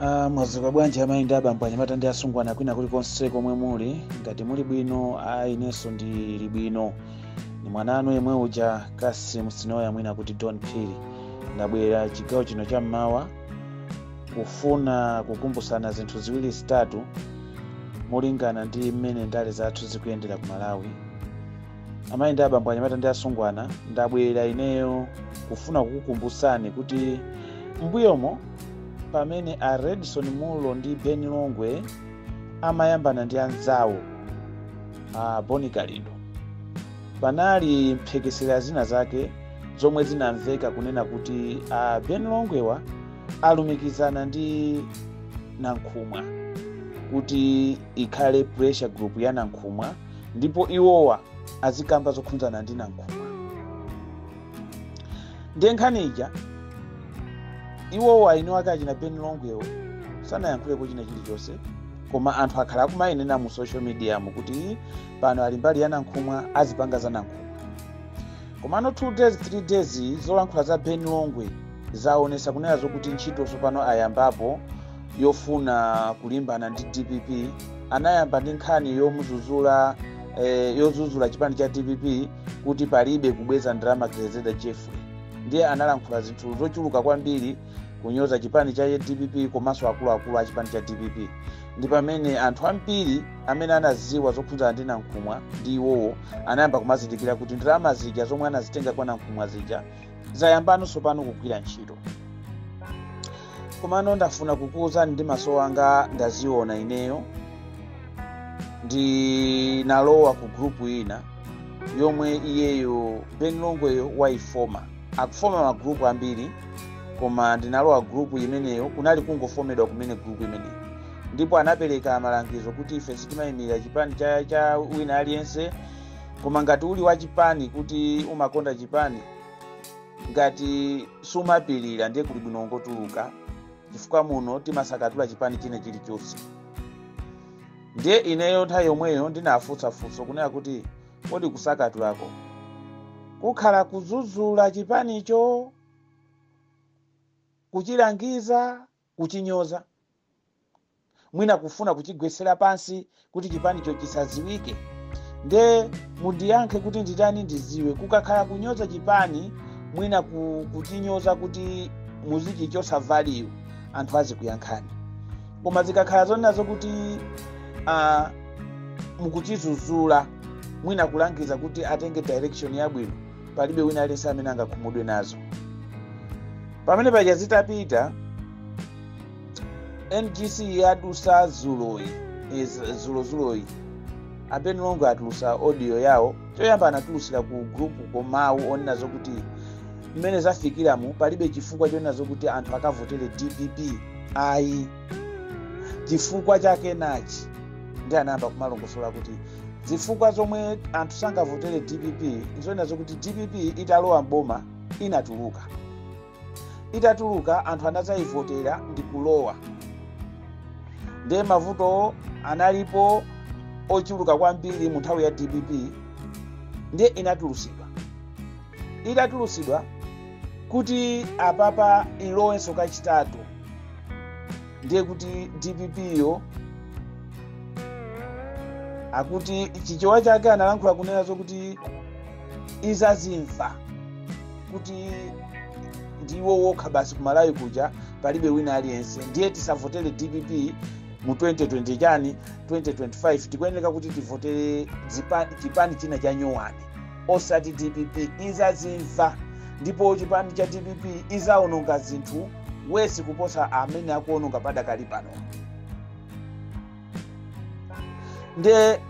Ah, mwazuka bwanji amayi ndi abambo anyamata ndi asungwana kwina kulikonse komwe muli ngati muli bwino ayi inenso ndili bwino ni mwana anu yemwe uja Cassim Sinoya mwina kuti don phiri ndabwera chigawo chino cha mmawa kufuna kukumbutsana zinthu ziwiri zitatu molingana ndi mmene ndale zathu zikuyendera ku malawi amayi ndi abambo anyamata ndi asungwana ndabwera ineyo kufuna kukukumbutsani kuti mbuyomo pamene a redson mulo ndi ben longwe amayambana ndi anzawo a bon kalindo panali mphekesera zina zake zomwe zinamveka kunena kuti a ben longwewa alumikizana ndi nankhumwa kuti ikhale pressure group ya nankhumwa ndipo iwowa azikamba zokhunzana ndi nankhumwa ndiye nkhani ija iwowa eni ake achina ben longwewo sanayankhulepo china chilichonse koma anthu akhala akumayinena mu social media mu kuti pano ali mbali ya nankhumwa azipanga za nankhumwa komano 2 days 3 days zolankhula za ben longwe zaonesa kunena zokuti ntchito tsopano ayambapo yofuna kulimbana ndi dpp anayamba ndi nkhani yomuzuzula eh, yozuzula chipani cha dpp kuti palibe kubweza ndalama grezeda jeffrey ndiye analankhula zinthu zochuluka kwambiri kunyoza chipani cha dpp komanso akuluakulu a chipani cha dpp ndi pamene anthu ambiri amene anaziwa zokhudzana ndi nankhumwa ndi iwowo anayamba kumazindikira kuti ndalama zija zomwe anazitenga kwa nankhumwa zija zayambano tsopano kugwira ntchito komano ndafuna kukuwuzani ndi maso anga ndaziona ineyo ndinalowa ku gurupu ina yomwe iyeyo ben longweyo wayifoma akufoma magurupu ambiri koma ndinalowa gurupu imeneyo kunali kungofomedwa kumene gurupu imeneyo ndipo anapereka malangizo kuti ife sitimayimirira chipani cha, cha wina aliyense koma ngati uli wa chipani kuti umakonda chipani ngati sumapirira ndiye kuli bwino ungotuluka chifukwa muno timasakatula chipani china chilichonse ndiye ineyo nthawi yomweyo ndinafunsa funso kunena kuti kodi kusakatulako kukhala kuzuzula chipanicho kuchilangiza kuchinyoza, mwina kufuna kuchigwetsera pansi kuti chipanicho chisadziwike nde mundiyankhe kuti nditani ndiziwe kukakhala kunyoza chipani mwina ku, kuchinyoza kuti muzichichotsa value anthu azikuyankhani koma zikakhala zonena zokuti uh, mukuchizuzula mwina kulangiza kuti atenge direction yabwino palibe wina aliyense amene angakhumudwe nazo pamene paja zitapita ngc yadusa zuloyi iz- zulozuloyi a Ben Longwe atulusa audio yawo choyamba anatulusira ku grupu komawu onena zokuti mmene zafikiramu palibe chifukwa chonena zokuti anthu akavotere dpp ayi chifukwa chake nachi ndi anayamba kumalongosola kuti zifukwa zomwe anthu sangavotere dpp nzonena zokuti dpp italowa mboma inatuluka itatuluka anthu anazayivotera ndi kulowa ndiye mavuto analipo ochuluka kwambiri mu nthawi ya dpp ndiye inatulusidwa itatulusidwa kuti apapa ilowenso kachitatu ndiye kuti dpp yo akuti chichewa chake analankhula kunena zokuti izazimva kuti ndiwo wokha basi kumalawi kuja palibe wina aliyense ndiye tisavotere dpp mu 2020 chani 2025 tikuyeneka kuti tivotere zipa- chipani china cha nyowani osati dpp izazimva ndipo chipani cha dpp izawononga zinthu wesi kuposa mmene akuwononga padakali pano nde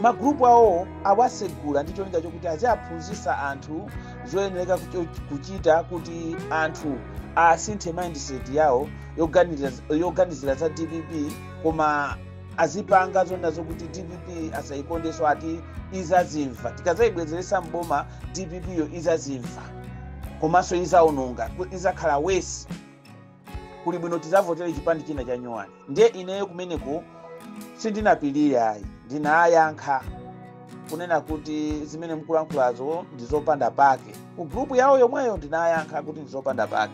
magrupu awo awasegula ndi cholinga chokuti aziaphunzitsa anthu zoyenereka kucho- kuchita kuti anthu asinthe mindset yawo yoganiza- yoganizira za dpp koma azipanga zonena zokuti dpp asayikondeso ati izazimva tikazayibwezeretsa mboma dpp yo izazimva komanso izawononga izakhala wesi kuli bwino tizavotere chipani china cha nyowani ndiye ineyo kumeneko sindinapirire ayi ndinayankha kunena kuti zimene mkulankhulazo ndizopanda pake ku grupu yawo yomweyo ndinayankha kuti ndizopanda pake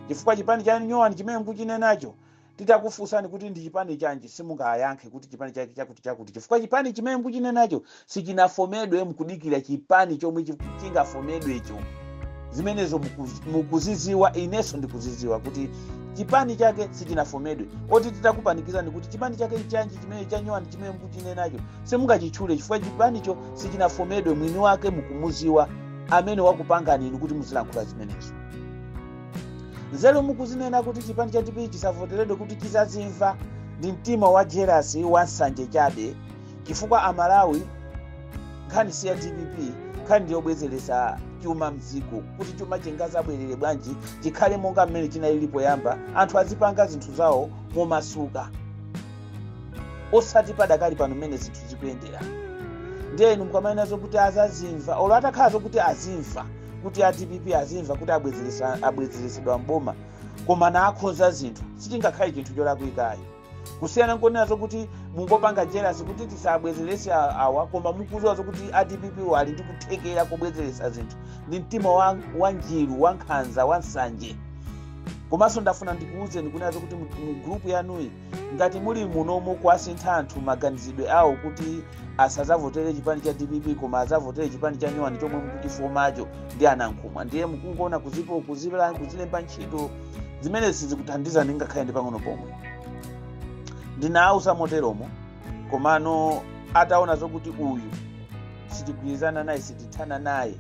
chifukwa chipani cha nyowani chimene mkuchinenacho Titakufunsani kuti ndi chipani chanji simungayankhe kuti chipani chake chakuti chakuti chifukwa chipani chimene mukuchinenacho sichinafomedwe mukudikira chipani chomwe chiku- chingafomedwecho zimenezo muku- mukuziziwa inenso ndikuziziwa kuti chipani chake sichinafomedwe oti titakupanikizani kuti chipani chake chanji chimene chanyowani chimene mukuchinenacho simungachitchule chifukwa chipanicho sichinafomedwe mwini wake mukumuziwa amene wakupanganini kuti muzilankhula zimenezo nzeru mukuzinena kuti chipani cha dpp chisavoteredwe kuti chizazimva ndi mtima wa jelasi wa nsanje chabe chifukwa amalawi nkhani si ya dpp nkhani ndiyobwezeretsa chuma mdziko kuti chuma chingazabwerere bwanji chikhale monga mmene chinalili poyamba anthu azipanga zinthu zawo momasuka osati padakali pano mmene zinthu zikuyendera ndiyeni mukamanena zokuti azazimva olo atakhala zokuti azimva kuti a dpp azimva kuti abwezeresa- abwezeresedwa mboma koma naakhonza zinthu sichingakhale chinthu cholakwika ayi kusiyana nkonena zokuti mungopanga jealous kuti tisabwezerese a- awa koma mukuziwa zokuti a dpp wo ali ndi kuthekera kobwezeresa zinthu ndi mtima wa, wa njiru wa nkhanza wa nsanje komanso ndafuna ndikuwuzeni kunena zokuti mu mu group yanuyi ngati muli muno mukuwasintha anthu maganizidwe awo kuti asazavotere chipani cha dpp koma azavotere chipani cha nyowani chomwe mukuchifunacho ndi a nankhumwa ndiye mukungoona kuzipo kuzibla kuzilemba ntchito zimene sizikuthandiza ndi ngakhale ndi pang'ono pomwe ndinawauza moteromo komano ataona zokuti uyu sitigwirizana naye sitithana naye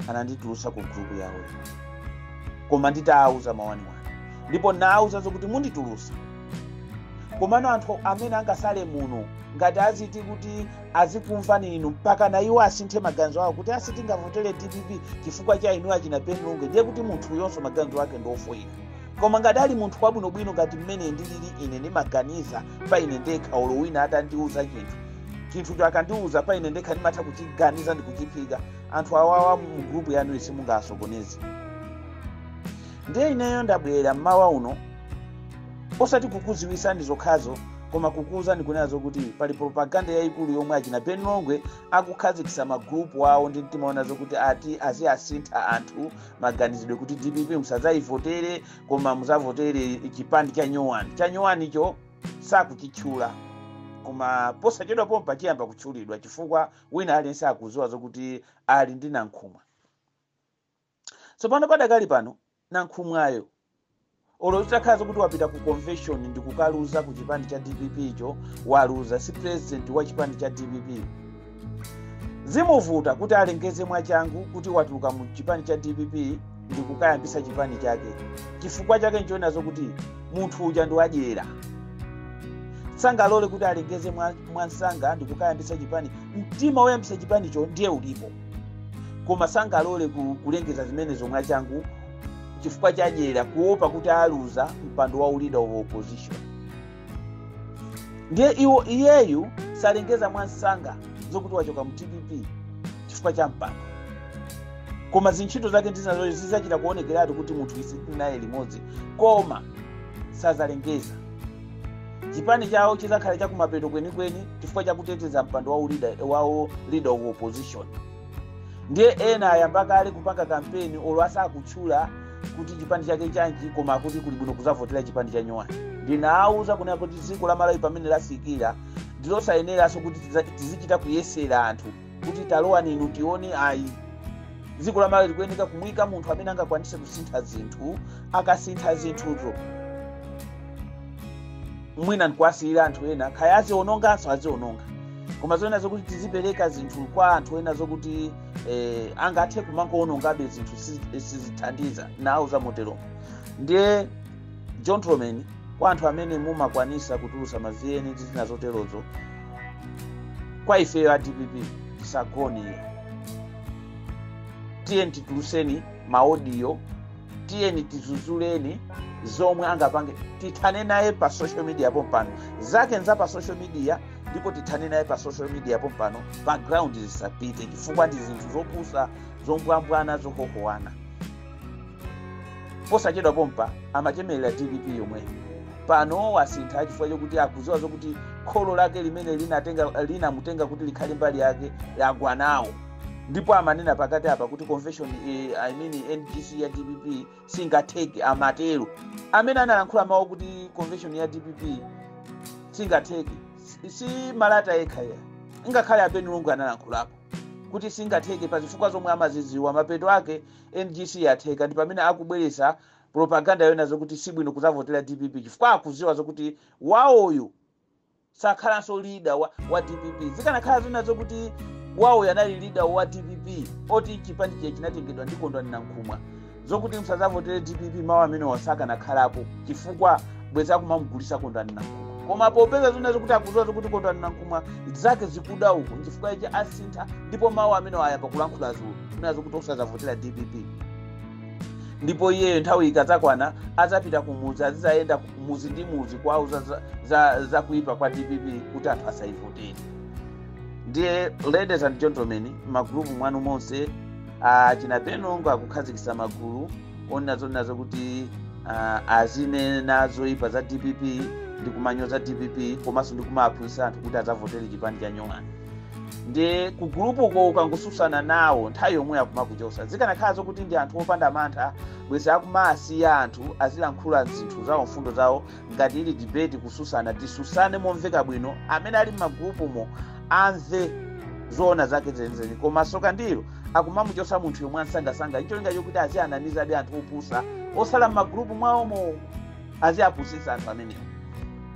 ananditulusa ku gulupu yawoyo koma nditawauza mawaniwani ndipo nawauza zokuti munditulusa komano anthu amene angasale muno ngati aziti kuti azikumvani inu mpaka na iwo asinthe maganizo awo kuti asati ndingavotere dpp chifukwa cha inu achina ben longwe ndiye kuti munthuyonso maganizo ake ndi ofoyira koma ngati ali munthu wabwinobwino ngati mmene ndilili ine ndimaganiza pa ine ndekha olo wina atandiuza chinthu chinthucho akandiuza pa ine ndekha ndimatha kuchiganiza ndi kuchiphika anthu awawa mu grupu yanuyi simungawasokoneze ndiye ineyo ndabwera mmawa uno osati kukuziwisani zokhazo koma kukuuzani kunena zokuti pali propaganda yayikulu yomwe achina ben longwe akukhazikisa magrupu awo ndi mtima wonena zokuti ati aziwasintha anthu maganizidwe kuti dpp musadzaivotere koma muzavotere chipani cha nyowani cha nyowanicho sakuchitchula koma posachedwa pompa chiyamba kutchulidwa chifukwa wina aliyense akuziwa zokuti ali ndi nankhumwa tsopano padakali pano nankhumwayo olo zitakhala zokuti wapita ku convention ndi kukaluza ku chipani cha dpp icho waluza si president wa chipani cha dpp zimuvuta kuti alengeze mwachangu kuti watuluka mu chipani cha dpp ndi kukayambisa chipani chake chifukwa chake nchonena zokuti munthu uja ndi wadyera sangalole kuti alengeze mwa- mwamsanga ndi kukayambisa chipani mtima woyambisa chipanicho ndiye ulipo koma sangalole ku- kulengeza zimenezo mwachangu chifukwa chadyera kuopa kuti aluza mpando wa leader of opposition ndiye iyeyu salengeza mwansanga zokuti wachoka mu dpp chifukwa cha mpando koma zintchito zake ndizinazo zizachita kuonekeratu kuti munthuyu sitinaye limodzi koma sazalengeza chipani chawo chizakhala chakumapeto kwenikweni chifukwa chakuteteza mpando wa leader of opposition ndiye ena ayamba kale kupanga kampeni olo asakutchula kuti chipani chake chanji koma kuti kuli bwino kuzavotera chipani cha nyowani ndinawauza kunena kuti dziko la malawi pamene lafikira ndilosayeneranso kuti tizichita kuyesera anthu kuti talowani inu tione ayi dziko la malawi likuyeneka kumuyika munthu amene angakwanise kusintha zinthu akasintha zinthuzo mwina ndikuwasiyira anthu ena kaya aziononganso aziononga koma zonena zokuti tizipereka zinthu kwa anthu ena zokuti angathe kumangoonongabe zinthu sizithandiza nawauza moteromo ndiye gentlemen kwa anthu amene mumakwanisa kutulusa mavieni ndi zina zoterozo kwa ifeyo a dpp tisagone tiyeni tituluseni maodiyo tiyeni tizuzuleni zomwe angapange tithane naye pa social media pompano zake nza pa social media ndipo tithane naye pa social media pompano pa ground zisapite chifukwa ndi zinthu zopusa zombwambwana zohohowana posachedwa pompa amachemerera dpp yomwe pano wasintha chifukwa chokuti akuziwa zokuti kholo lake limene linamutenga kuti likhale mbali yake lagwa nawo ndipo amanena pakati apa kuti convention eh, i mean ngc ya dpp singatheke amatero amene analankhula mawu kuti convention ya dpp singatheke si malata yekha ayi ngakhale a ben longwe analankhulapo kuti singatheke pa zifukwa zomwe amazidziwa mapeto ake ngc yatheka ndi pamene akubweretsa propaganda yonena zokuti sibwino kuzavotera dpp chifukwa akuziwa zokuti wawoyo sakhalanso leader wa dpp zikanakhala zonena zokuti wawoyo anali leader wa dpp oti chipani chinatengedwa ndi kondwani nankhumwa zokuti musazavotere dpp mawu amenewa sakanakhalapo chifukwa bwezi akumamugulisa kondwani nankhumwa koma popeza zonena zokuti akuziwa zokuti kondwani nankhumwa zake zikuda uko nchifukwa ichi asintha ndipo mawu amenewa ayamba kulankhula dzulo zonena zokuti osazavotera dpp ndipo iyeyo nthawi ikadzakwana adzapita kumudzi azidzayenda mudzi ndi mudzi kuwauza za kuipa kwa dpp kuti anthu asayivotere ndiye ladies and gentlemen magulupu mwanu monse achina ben longwe akukhazikitsa magulu onena zonena zokuti azinena zoipa za dpp ndi kumanyoza dpp komanso ndi kumawaphunzitsa anthu kuti adzavotere chipani cha nyowani ndiye kugulupuko ukangosusana nawo nthawi yomweyo akumakuchosa zikanakhala zokuti ndi anthu opanda mantha bwezi akumasiya anthu azilankhula zinthu zawo mfundo zawo ngati ili debate kususana tisusane momveka bwino amene ali m'magulupumo amve zoona zake zenizeni koma soka ndilo akumamuchosa munthuyo mwansangasanga ncholinga chokuti aziwanamizabe anthu opusa osala m'magulupu mwawomo aziapusitsa anthu amenewo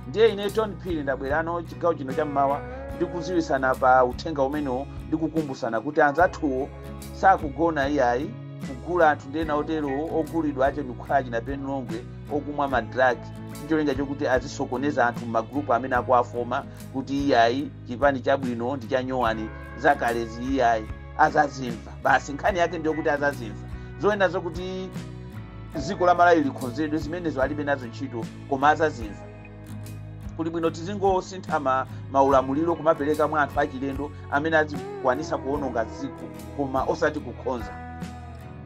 ndiye ine john phiri ndabwerano chigawo chino chammawa ndikuziwisana pa uthenga umenewo ndikukumbusana kuti anzathuwo sakugona iyayi kugula anthu ndi ena oterowo ogulidwa ache ndikukhala achina ben longwe okumwa madrag ndicholinga chokuti azisokoneza anthu mmagrupu amene akuwafoma kuti iyayi chipani chabwino ndi chanyowani zakalezi iyayi azazimva basi nkhani yake ndiyokuti azazimva zonena zokuti dziko la malawi likhonzedwe zimenezo alibe nazo ntchito koma azazimva kuli bwino tizingosintha ma, maulamuliro kumapereka mwa anthu achilendo amene azikwanisa kuononga dziko koma osati kukhonza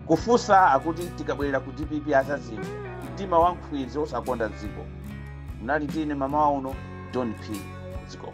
kufunsa akuti tikabwerera ku dpp azazimva mtima wa nkhwizi osakonda dziko munali ndi ine mmamawa uno john phiri ziko